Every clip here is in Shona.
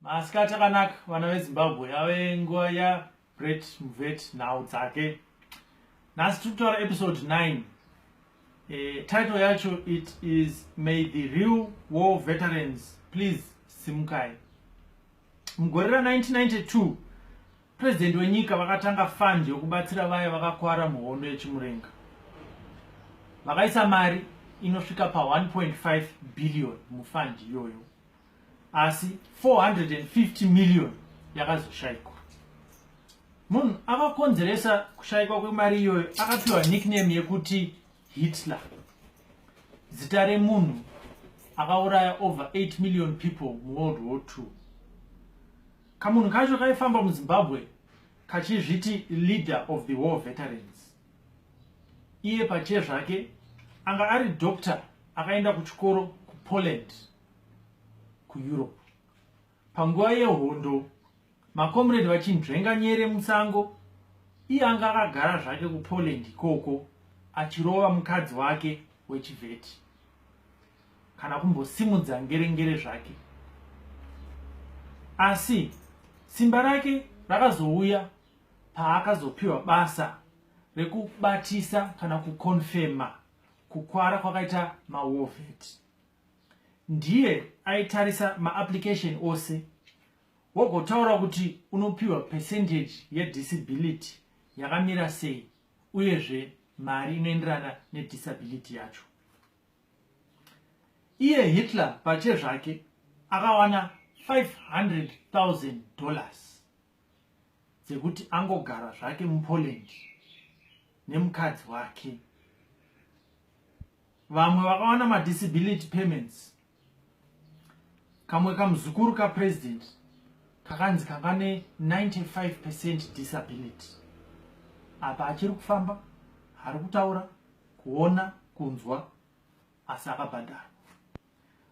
Masikati akanaka vana veZimbabwe ave nguva ya Brett Mvet nhau dzake. Nhasi tiri kutaura episode 9. E, title yacho it is May the real war veterans please simukai. Mugore ra 1992 president wenyika vakatanga fund yokubatsira vaya vakakwara muhondo yechimurenga. Vakaisa mari inosvika pa 1.5 billion mufund iyoyo. asi 450 million yakazoshaikwa munhu akakonzeresa kushaikwa kwemari iyoyo akapiwa nickname yekuti hitler zita remunhu akauraya over 8 million people muworld war ii kamunhu kacho kaifamba muzimbabwe kachizviti leader of the war veterans iye pachiye zvake anga ari doctor akaenda kuchikoro kupoland kueurope panguva yehondo makomredi vachinzvenga nyere musango iye anga akagara zvake kupoland ikoko achirova mukadzi wake wechivheti kana kumbosimudza ngerengere zvake asi simba rake rakazouya paakazopiwa basa rekubatisa kana kukonfema kukwara kwakaita mawovheti ndiye aitarisa maapplication ose wogotaura kuti unopiwa percentage yedisability yakamira sei uyezve mari inoenderana nedisability yacho iye hitler pache zvake akawana 500,000 dollars dzekuti angogara zvake mupoland nemukadzi wake vamwe vakawana madisability payments kamwe kamuzukuru kapresident kakanzi kanga ne 95 percent disability apa achiri kufamba ari kutaura kuona kunzwa asi akabhadharwa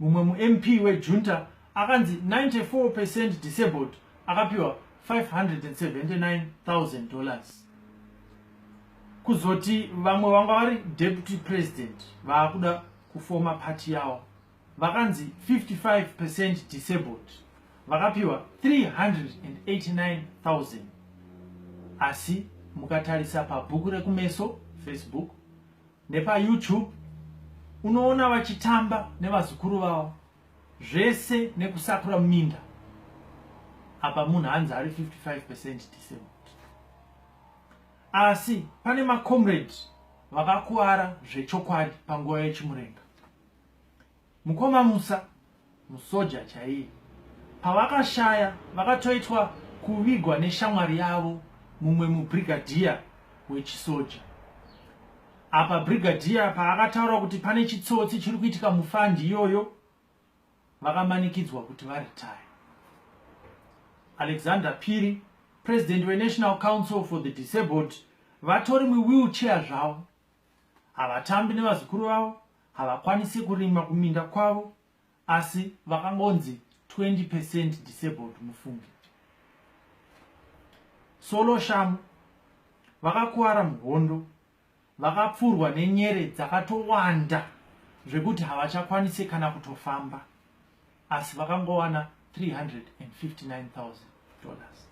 Mumwe muMP wejunta akanzi 94 percent disabled akapiwa 579,000 dollars. Kuzoti vamwe vanga vari deputy president vaakuda kufoma party yawo vakanzi 55 percent disabled vakapiwa 389,000 asi mukatarisa pabhuku rekumeso facebook nepayoutube unoona vachitamba nevazukuru vavo zvese nekusakura minda apa munhu hanzi ari 55 percent disabled asi pane macomrade vakakuvara zvechokwadi panguva yechimurenga Mukoma Musa musoja chaiye. Pavakashaya vakatoitwa kuvigwa neshamwari yavo mumwe mubrigadier wechisoja. Apa brigadier paakataura kuti pane chitsotsi chiri kuitika mufandi iyoyo vakamanikidzwa kuti varetire. Alexander Phiri, president weNational Council for the Disabled, vatori muwheelchair zvavo havatambi nevazukuru vavo havakwanisi kurima kuminda kwavo asi vakangonzi 20 percent disabled mufunge solo shamu vakakuvara muhondo vakapfurwa nenyere dzakatowanda zvekuti havachakwanise kana kutofamba asi vakangowana 359000 dollars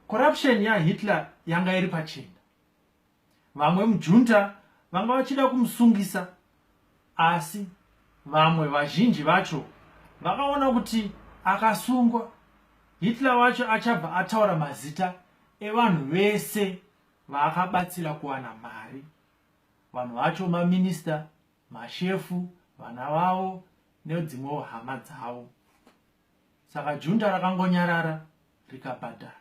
corruption yahitler yanga iri pachena vamwe mujunta vanga vachida kumusungisa asi vamwe vazhinji vacho vakaona kuti akasungwa hitler wacho achabva ataura mazita evanhu vese vaakabatsira kuwana mari vanhu vacho maminista mashefu vana vavo nedzimwewo hama dzavo saka junta rakangonyarara rikabhadhara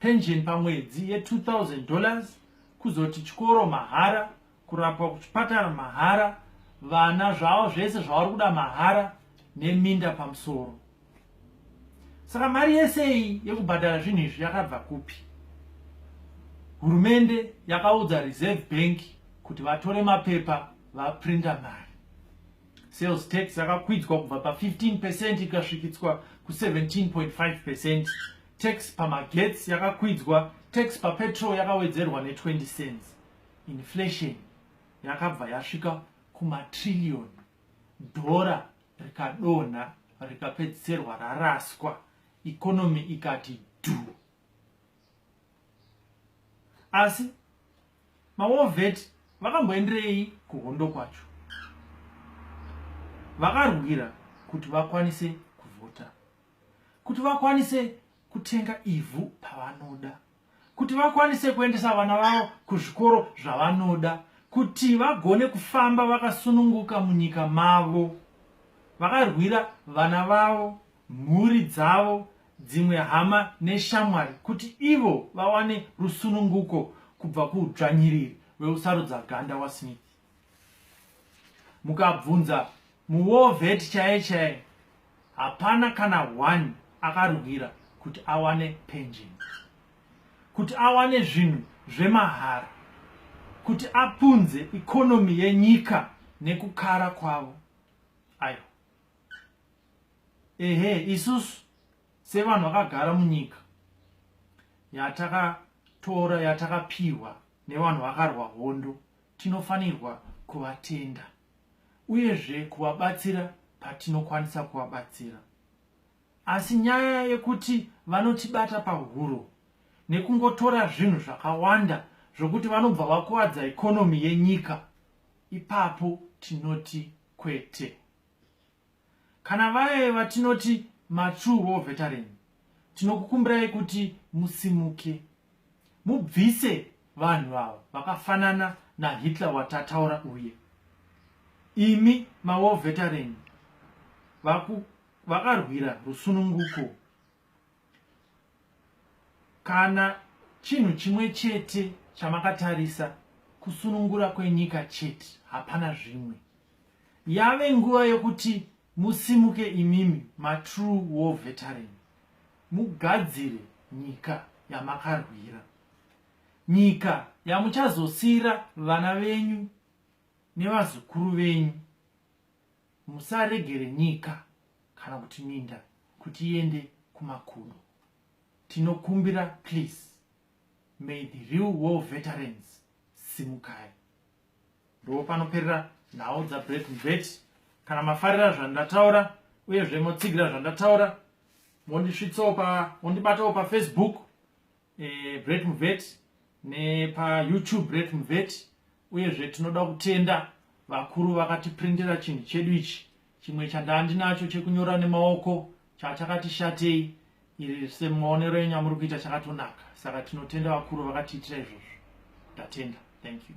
pension pamwedzi ye 2000 dollars kuzoti chikoro mahara kurapwa kuchipatara mahara vana zvavo zvese zvavari kuda mahara neminda pamusoro saka mari yese iyi yekubhadhara zvinhu izvi yakabva kupi hurumende yakaudza reserve bank kuti vatore mapepa vaprinda mari Sales tax yakakwidzwa kubva pa 15 percent ikasvikitswa ku 17.5 percent. Tax pamagetsi yakakwidzwa, tax papetrol yakawedzerwa ne 20 cents. Inflation yakabva yasvika kumatrillion dhora rikadonha rikapedzisirwa raraswa ikonomi ikati dhu asi Mawovet vakamboenderei kuhondo kwacho? Vakarwira kuti vakwanise kuvhota, kuti vakwanise kutenga ivhu pavanoda, kuti vakwanise kuendesa vana vavo kuzvikoro zvavanoda, kuti vagone kufamba vakasununguka munyika mavo. Vakarwira vana vavo mhuri dzavo, dzimwe hama neshamwari kuti ivo vawane rusununguko kubva kuudzvanyiriri weusarudza ganda waSmith. Mukabvunza muwovet chaiye chaiye, hapana kana one akarwira kuti awane pension, kuti awane zvinhu zvemahara, kuti apunze ikonomi yenyika nekukara kwavo. ehe isusu sevanhu vakagara munyika yatakatora yatakapiwa nevanhu vakarwa hondo tinofanirwa kuvatenda uyezve kuvabatsira patinokwanisa kuvabatsira asi nyaya yekuti vanotibata pahuro nekungotora zvinhu zvakawanda zvokuti vanobva vakuvadza ikonomi yenyika ipapo tinoti kwete Kana vaye vatinoti matrue war veteran tinokukumbirai kuti musimuke mubvise vanhu ava vakafanana naHitler watataura uye imi mawar veteran vakarwira rusununguko Kana chinhu chimwe chete chamakatarisa kusunungura kwenyika chete hapana zvimwe yave nguva yokuti musimuke imimi matrue war veteran mugadzire nyika yamakarwira nyika yamuchazosiira vana venyu nevazukuru venyu Musaregere nyika kana kuti minda kuti iende kumakudo. Tinokumbira please. May the real war veterans simukai. Ndipo panoperera nhau dza Brett Mvet. Kana mafarira zvandataura uyezve motsigira zvandataura mondisvitsawo pa mondibatawo pa Facebook eh, Brett Mveti nepaYoutube Brett Mveti uyezve tinoda kutenda vakuru vakatiprindira chinhu chedu ichi chimwe chandaa ndinacho chekunyora nemaoko chachakati shatei iri semaonero enyu amuri kuita chakatonaka saka tinotenda vakuru vakatiitira izvozvo tatenda thank you